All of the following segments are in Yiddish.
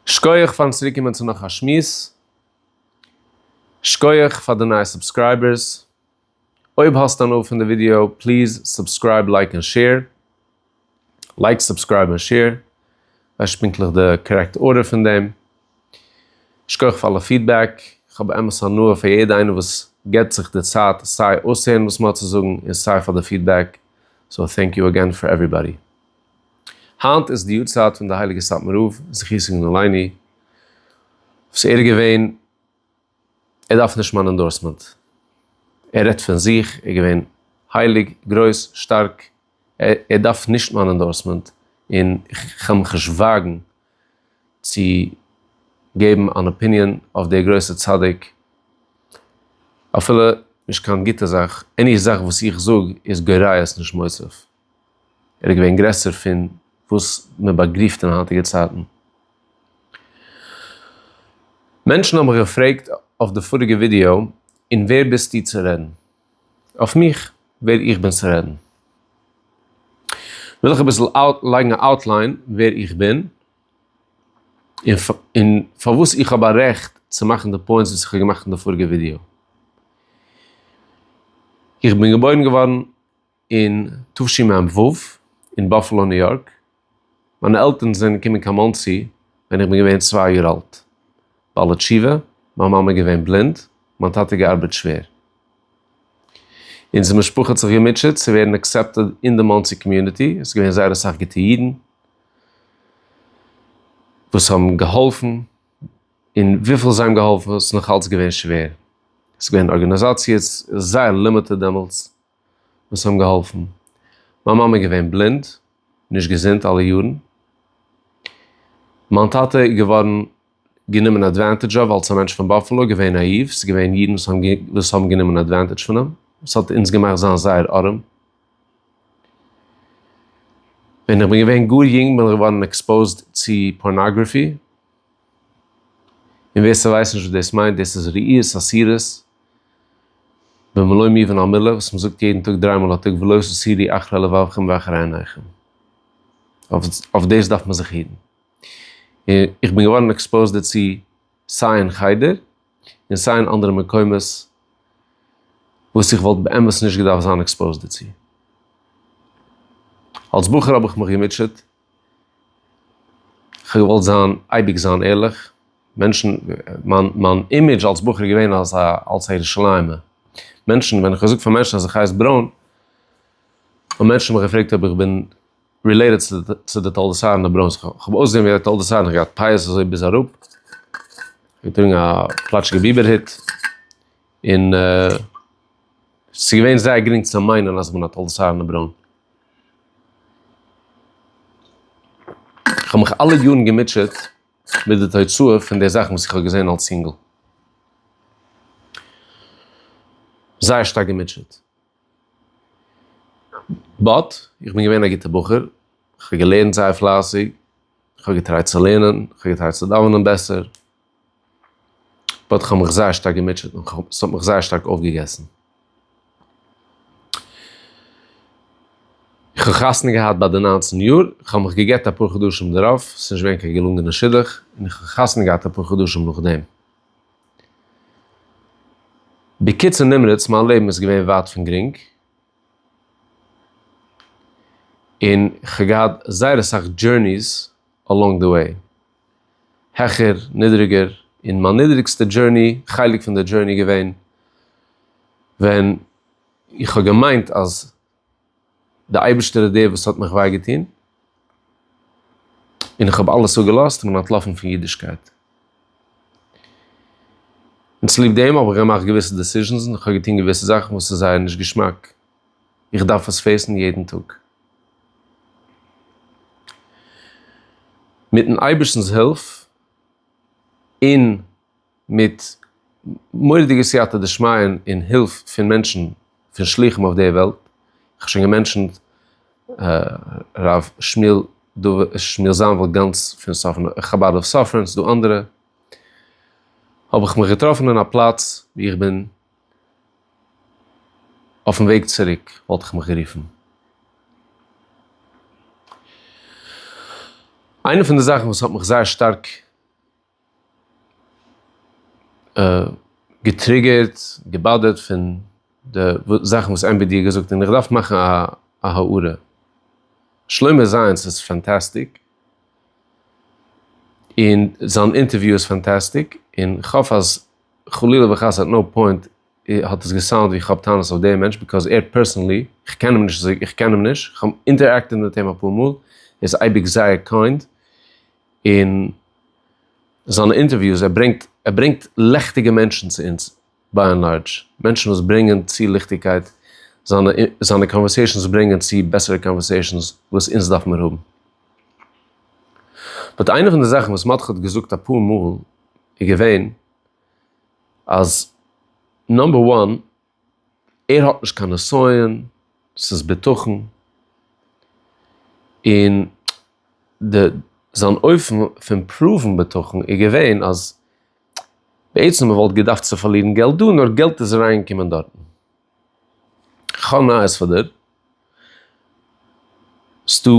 שקויעך פארן צוריק קומען צו נאך א שמועס. שקויעך פאר די נייע סובסקרייבערס. אויב האסט הנאה פון די ווידיאו פליז סובסקרייב לייק און שעיר. לייק סובסקרייב און שעיר. כ'ווייס נישט פונקטליך די קארעקט ארדער פון דעם. שקויעך פאר אלע פידבעק. כ'האב באמת הנאה פון יעדע איינער וואס געבט זיך די צייט סיי אויסהערן וואס מ'האט צו זאגן און סיי פאר די פידבעק. סאו טענק יו אגעין פאר עוועריבאדי. היינט איז די יארצייט פון די הייליגע סאטמאר רב זכותו יגן עלינו, וואס ער איז געווען, ער דארף נישט מיין אינדארסמענט, ער רעדט פון זיך, ער איז געווען הייליג, גרויס, שטארק, ער דארף נישט מיין אינדארסמענט, און כ'קען מיך נישט וואגן צו געבן אן אפיניען אויף דער גרויסער צדיק, אפילו נישט קיין גוטע זאך, עני זאך וואס איך זאג איז גוריות נישט מוסיף. ער איז געווען גרעסער פון וואס מען באגריפט אין היינטיגע צייטן. מענטשן האבן מיך געפרעגט אויף די פאריגע ווידיאו, און ווער ביסטו צו רעדן אויף מיך, ווער איך בין צו רעדן. וויל איך אביסל לייגן א אוטליין ווער איך בין, און פארוואס איך האב א רעכט צו מאכן די פוינטס וואס איך האב געמאכט אין די פאריגע ווידיאו. איך בין געבוירן געווארן אין תשמ ו אין באפעלא ניו יארק, מיינע עלטערן זענען געקומען קיין מאנסי ווען איך בין געווען צוויי יאר אלט, בעלי תשובה, מיין מאמע איז געווען בלינד, מיין טאטע געארבעט שווער. אונזער משפחה האט זיך געמוטשעט צו ווערן אקסעפטעד אין די מאנסי קאמיוניטי, עס איז געווען זייער אסאך גוטע אידן וואס האבן געהאלפן, און וויפיל זיי האבן געהאלפן איז נאך אלץ געווען שווער, עס איז געווען ארגאניזאציעס זייער לימיטעד דעמאלטס, וואס האבן געהאלפן. מיין מאמע איז געווען בלינד, נישט געזונט אלע יארן. מיין טאטע איז געווארן גענומען עדוואנטעדזש אויף אלס א מענטש פון באפעלא, געווען נאאיוו, ס'איז געווען אידן וואס האבן גענומען עדוואנטעדזש פון אים, וואס האט אונז געמאכט זיין זייער ארעם. ווען איך בין געווען גאר יונג בין איך געווארן עקספאוזד צו פארנאגראפי. און ווער ס'ווייסט נישט וואס דאס מיינט, דאס איז ראיות אסירות במלוא מובן המילה וואס מ'זאגט יעדן טאג דריי מאל א טאג ולא תסירי אחרי לבבכם ואחרי עיניכם. אויף דאס דארף מען זיך היטן. און איך בין געווארן עקספאוזד דערצו סיי אין חדר און סיי אין אנדערע מקומות וואס איך וואלט באמת נישט געדארפט זיין עקספאוזד דערצו. אלס בחור האב איך מיך געמוטשעט. כ'האב געוואלט זיין אייביג זיין ערליך, מענטשן, מיין מיין אימעדזש אלס בחור איז געווען אלס א אלס א ירושלימ'ער, מענטשן, ווען כ'האב געזאגט פאר מענטשן אז איך הייס ברוין, האבן מענטשן מיך געפרעגט אויב איך בין רילעיטעד צו די צו די תולדות אהרן די ברוינס, כ'האב אויסגעזען ווי א תולדות אהרן, כ'האב געהאט פאות אזוי ביז אראפ, געטראגן א פלאטשיגע ביבער הוט, און ס'איז געווען זייער גרינג צו מיינען אז כ'בין א תולדות אהרן די ברוין. איך האב מיך אלע יארן געמוטשעט מיט די תוצאה פון די זאכן וואס איך האב געזען אלס יונגל. זייער שטארק געמוטשעט. באט, איך בין געווען א גוטער בחור, איך האב געלערנט זייער פלייסיג, איך האב געטרייט צו לערנען, איך האב געטרייט צו דאווענען בעסער, באט כ'האב מיך זייער שטארק געמוטשעט און ס'האט מיך זייער שטארק אויפגעגעסן. כ'האב חתונה געהאט ביי די ניינצן יאר, כ'האב מיך גע'גט אפאר חדשים דערויף, ס'איז נישט געווען קיין געלונגענע שידוך, און איך האב חתונה געהאט אפאר חדשים נאכדעם. בקיצור נמרץ, מיין לעבן איז געווען ווייט פון גרינג, און כ'האב געהאט זייער אסאך דזשורניס אלאנג די וועי. העכער, נידריגער, און מיין נידריגסטע דזשורני, חלק פון די דזשורני געווען ווען איך האב געמיינט אז די אייבערשטער איז דער וואס האט מיך וויי געטון, און איך האב אלעס אפגעלאזט און בין אנטלאפן פון אידישקייט. און צוליב דעם האב איך געמאכט געוויסע דעסיזשענס און איך האב געטון געוויסע זאכן וואס איז זייער נישט געשמאק. איך דארף עס פעסן יעדן טאג. מיטן אייבערשטנ'ס הילף און מיט מורא'דיגע סייעתא דשמיא און הילף פון מענטשן, פון שלוחים אויף די וועלט, איך האב שוין געמענטשענט ר' שמואל זאנוויל גאנץ פון חבד אויף סאפרען, ס'דא אנדערע, האב איך מיך געטראפן אין א פלאץ וואו איך בין, אויפן וועג צוריק וואלט איך מיך גערופן. איינע פון די זאכן וואס האט מיך זייער שטארק געטריגערט, געבאדערט פון די זאכן וואס עמבי די האט געזאגט, און איך דארף מאכן א הערה, שלמה זיינס איז פאנטאסטיק, און זיין אינטערוויו איז פאנטאסטיק, און כ'האף אז. חלילה וחס עט נאו פוינט האט עס געסאונד ווי איך האב טענות אויף דעם מענטש ביקאוז ער פערסענלי, איך קען אים נישט, איך קען אים נישט, איך האב אינטערעקטעד מיט אים אפאר מאל, ער איז אייביג זייער קיינד, און זיינע אינטערוויוס, ער ברענגט ער ברענגט לעכטיגע מענטשן צו אונז, ביי ענד לארדזש, מענטשן וואס ברענגען צו ליכטיגקייט, זיינע זיינע קאנווערסעישאנס ברענגען צו בעסערע קאנווערסעישאנס וואס אונז דארף מיר האבן. באט איינע פון די זאכן וואס מאטכע האט געזאגט אפאר מאל, איז געווען אז נאמבער וואן ער האט נישט קיין נסיון, ס'איז בטחון, און די זיין אופן פון פראוון בטחון איז געווען אז בעצם מ'וואלט געדארפט צו פארלירן געלט דא נאר געלט איז אריינגעקומען דארטן. כ'האב נייעס פאר דיר, ס'דא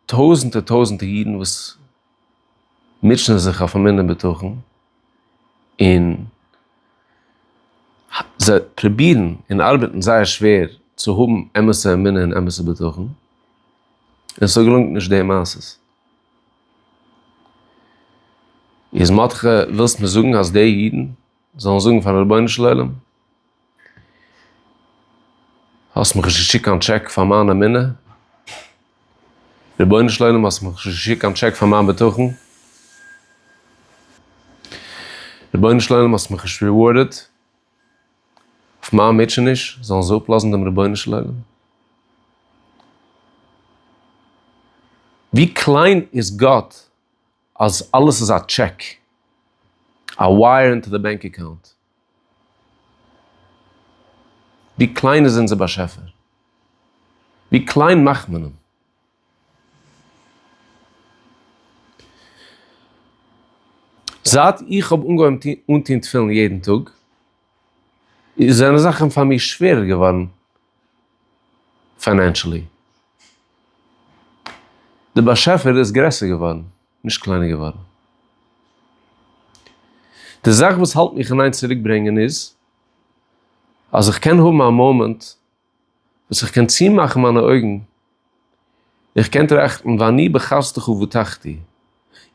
טויזענטער טויזענטער אידן וואס מוטשענען זיך אויף אמונה בטחון, און זיי פרובירן און ארבעטן זייער שווער צו האבן אמת'ע אמונה און אמת'ע בטחון, און ס'געלונגט נישט די מעשה. איז מאטכע ווילסט מיר זאגן אז די אידן זאלן זאגן פארן רבונו של עולם? האסט מיך נישט געשיקט קיין טשעק פאר מיין אמונה, רבונו של עולם האסט מיך נישט געשיקט קיין טשעק פאר מיין בטחון, רבונו של עולם האסט מיך נישט ריווארדעד אויף מיין מוטשעניש, זאלן זיי אפלאזן דעם רבונו של עולם? ווי קליין איז גאט אז אלעס איז א טשעק, א ווייער אינטו די בענק אקאונט? ווי קליין איז אונזער באשעפער? ווי קליין מאכט מען אים? זייט איך האב אנגעהויבן אנטוהן תפילין יעדן טאג, זענען זאכן פאר מיר שווערער געווארן פיינענשעלי. די באשעפער איז גרעסער געווארן. נישט קליינער געווארן. די זאך וואס האלט מיך אין איין צוריק ברענגען איז אז איך קען האבן א מאמענט וואס איך קען צומאכן מיינע אויגן און איך קען טראכטן ואני בחסדך ובטחתי,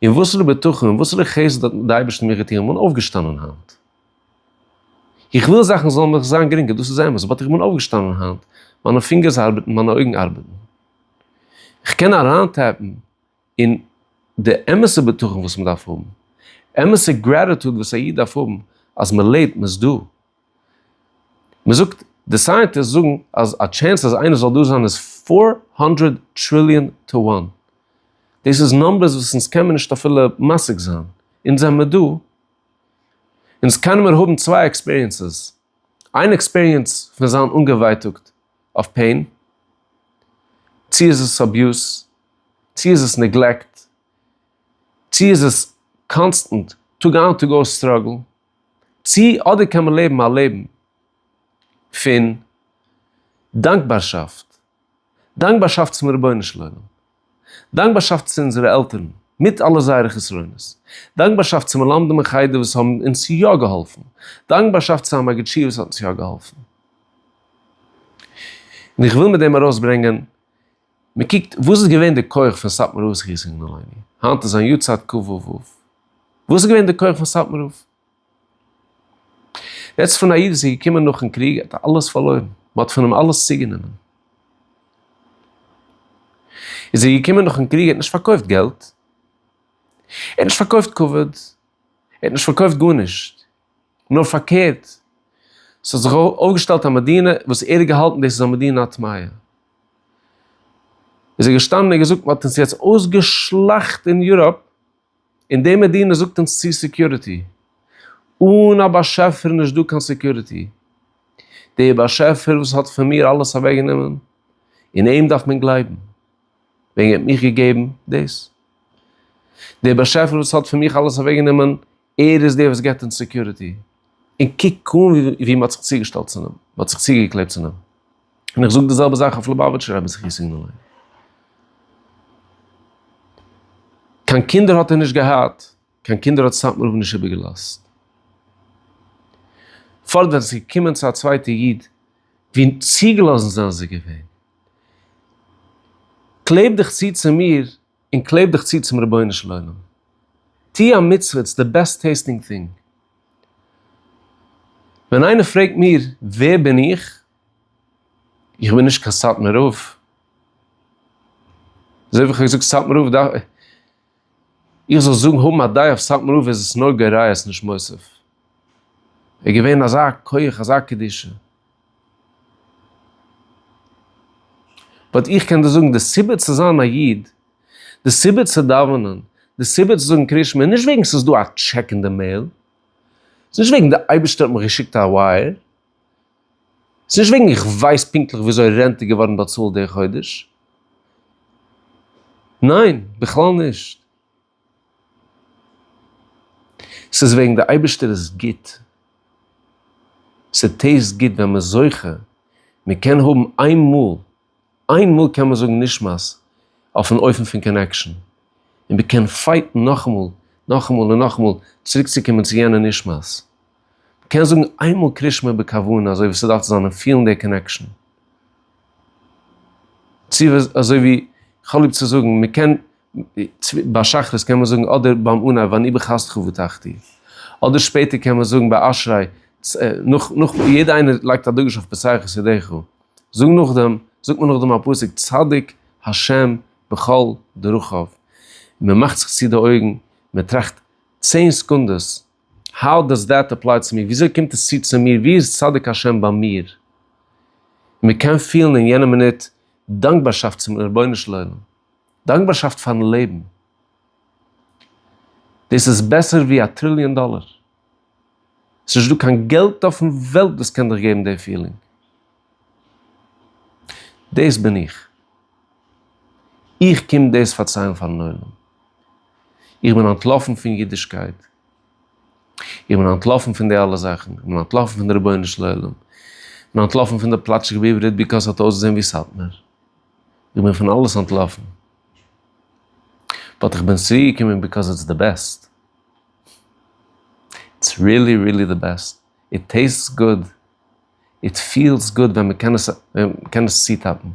און וואסערע בטחון און וואסערע חסד האט די אייבערשטער מיר געטון, איך בין אויפגעשטאנען היינט. איך וויל זאכן זאלן מיך זיין גרינגער, דאס איז אמת, באט איך בין אויפגעשטאנען היינט, מיינע פינגערס ארבעטן, מיינע אויגן ארבעטן, איך קען אריינטעפן. און די אמת'ע בטחון וואס מ'דארף האבן, אמת'ע גרעטיטוד וואס א איד דארף האבן אז מ'לעבט, מ'איז דא. מ'זאגט, די סייענטיסט זאגן אז א טשענס אז איינער זאל דא זיין איז פֿיר הונדערט טריליאן טו וואן. דאס איז נומבערס וואס אונז קען מיר נישט אפילו משיג זיין. אונז זעמיר דא. אונז קענען מיר האבן צוויי עקספיריענסעס. איין עקספיריענס פון זיין אנגעווייטאגט. אויף פעין? צו איז עס אביוז? צו איז עס נעגלעקט? צו איז עס קאנסטענט טאג איין טאג אויס סטראגל? צו אדער קען מען לעבן א לעבן פון דאנקבארשאפט, דאנקבארשאפט צום רבונו של עולם? דאנקבארשאפט צו אונזערע עלטערן, מיט אלע זייערע חסרונות. דאנקבארשאפט צו מלמדים אין חדר וואס האבן אונז יא געהאלפן. דאנקבארשאפט צו המגיד שיעור וואס האט אונז יא געהאלפן. און איך וויל מיט דעם ארויסברענגען, מען קוקט וואס איז געווען די כח פון סאטמאר רב זכותו יגן עלינו, היינט איז זיין יארצייט כ ו אב, וואס איז געווען די כח פון סאטמאר רב? יעצט פון א איד וואס איז געקומען נאכן קריג האט ער אלעס פארלוירן, מען האט פון אים אלעס צוגענומען. איז ער געקומען נאכן קריג ער האט נישט פארקויפט געלט, ער האט נישט פארקויפט כבוד, ער האט נישט פארקויפט גארנישט, נאר פארקערט, ס'האט זיך אויפגעשטעלט א מדינה וואס ער האט געהאלטן דאס איז א מדינה א טמאה. איז ער געשטאנען און געזאגט מען האט אונז יעצט אויסגעשלאכט אין יוראפ, און די מדינה זאגט אונז צו סעקיוריטי. אן א באשעפער איז נישט דא קיין סעקיוריטי. דער באשעפער וואס האט פון מיר אלעס אוועקגענומען, און אים דארף מען גלייבן. וועגן ער האט מיך געגעבן דאס. דער באשעפער וואס האט פון מיך אלעס אוועקגענומען, ער איז דער וואס גיבט אונז סעקיוריטי. און קוק אן ווי מען האט זיך צוגעשטעלט צו אים. מען האט זיך צוגעקלעבט צו אים. און איך זאג די זעלבע זאך אויף לובאוויטשער רבי זכי' סיגנאלען. קיין קינדער האט ער נישט געהאט, קיין קינדער האט סאטמאר רב נישט איבערגעלאזט. פארט ווען עס איז געקומען צו א צווייטע איד, ווי צוגעלאזן זענען זיי געווען. קלעב דיך צו צו מיר און קלעב דיך צו צום רבונו של עולם. טו א מצוה, איטס די בעסט טעיסטינג טינג. ווען איינער פרעגט מיר ווער בין איך, איך בין נישט קיין סאטמאר רב. אזוי ווי איך האב געזאגט סאטמאר רב דארף. איך זאל זאגן האבן א דעה אויף סאטמאר רב איז עס נוגע ראיות נישט מוסיף. ער איז געווען אזא כח אזא קדושה. באט איך קען דיר זאגן די סיבה צו זיין א איד, די סיבה צו דאווענען, די סיבה צו זאגן קריאת שמע איז נישט וועגן ס'איז דא א טשעק אין די מעיל. ס'איז נישט וועגן די אייבערשטער האט מיך געשיקט א ווייער. ס'איז נישט וועגן איך ווייס פונקטליך וויאזוי רענט איז געווארן באצאלט די חודש, ניין בכלל נישט, ס'איז וועגן די אייבערשטער איז גוט, ס'טעיסט גוט ווען מ'איז זוכה, מ'קען האבן איינמאל, איין מאל קען מען זאגן נשמת אויפן אופן פון קאנעקשאן, און מען קען פייטן נאכאמאל, נאכאמאל און נאכאמאל צוריקצוקומען צו יענע נשמת. מען קען זאגן איינמאל קריש מיר בכוונה אזוי ווי ס'דארף צו זיין און פילן די קאנעקשאן. צו אזוי ווי כ'האב ליב צו זאגן, מען קען ביי שחרית קען מען זאגן אדער ביים אנהייב ואני בחסדך ובטחתי, אדער שפעטער קען מען זאגן ביי אשרי, נאך נאך יעדע איינער לייגט א דגוש אויף פסח ידיך, זאג נאכדעם זאגט מען נאכדעם א פסוק צדיק השם בכל דרכיו, מען מאכט זיך צו די אויגן מען טראכט צען סעקונדעס האו דאס דעט אפליי צו מיר, וויאזוי קומט עס צו צו מיר, ווי איז צדיק השם ביי מיר, מען קען פילן אין יענע מינוט דאנקבארשאפט צום רבונו של עולם. דאנקבארשאפט פארן לעבן. דאס איז בעסער ווי א טריליאן דאלער. עס איז נישט דא קיין געלט אויפן וועלט וואס קען דיך געבן די פילינג. דאס בין איך. איך קום דאס פארציילן פארן עולם. איך בין אנטלאפן פון אידישקייט. איך בין אנטלאפן פון די אלע זאכן. איך בין אנטלאפן פון די רבונו של עולם. איך בין אנטלאפן פון די פלאטשיגע בעברית ביקאס ס'האט אויסגעזען ווי סאטמאר. איך בין פון אלעס אנטלאפן, באט איך בין צוריקגעקומען ביקאוז איטס די בעסט, איטס ריעלי ריעלי די בעסט, איט טעיסטס גוד, איט פילס גוד ווען מען קען עס ווען מען קען עס צוטאפן,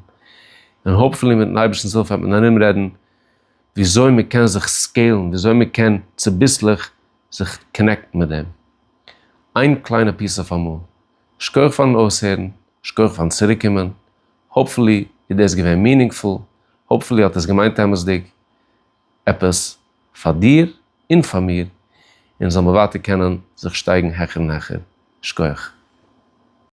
און האופפולי מיטן אייבערשטנ'ס הילף וועט מען ארומרעדן וויאזוי מען קען זיך סקעילן, וויאזוי מען קען צוביסלעך זיך קאנעקטן מיט דעם, איין קליינע פיס אויף אמאל. שכוח פארן אויסהערן, שכוח פארן צוריקקומען. האפפולי איז דאס געווען מינינגפול, האפפולי האט עס געמיינט אמת'דיג עפעס פאר דיר און פאר מיר, און זאל מען ווייטער קענען זיך שטייגן העכער און העכער. שכוח.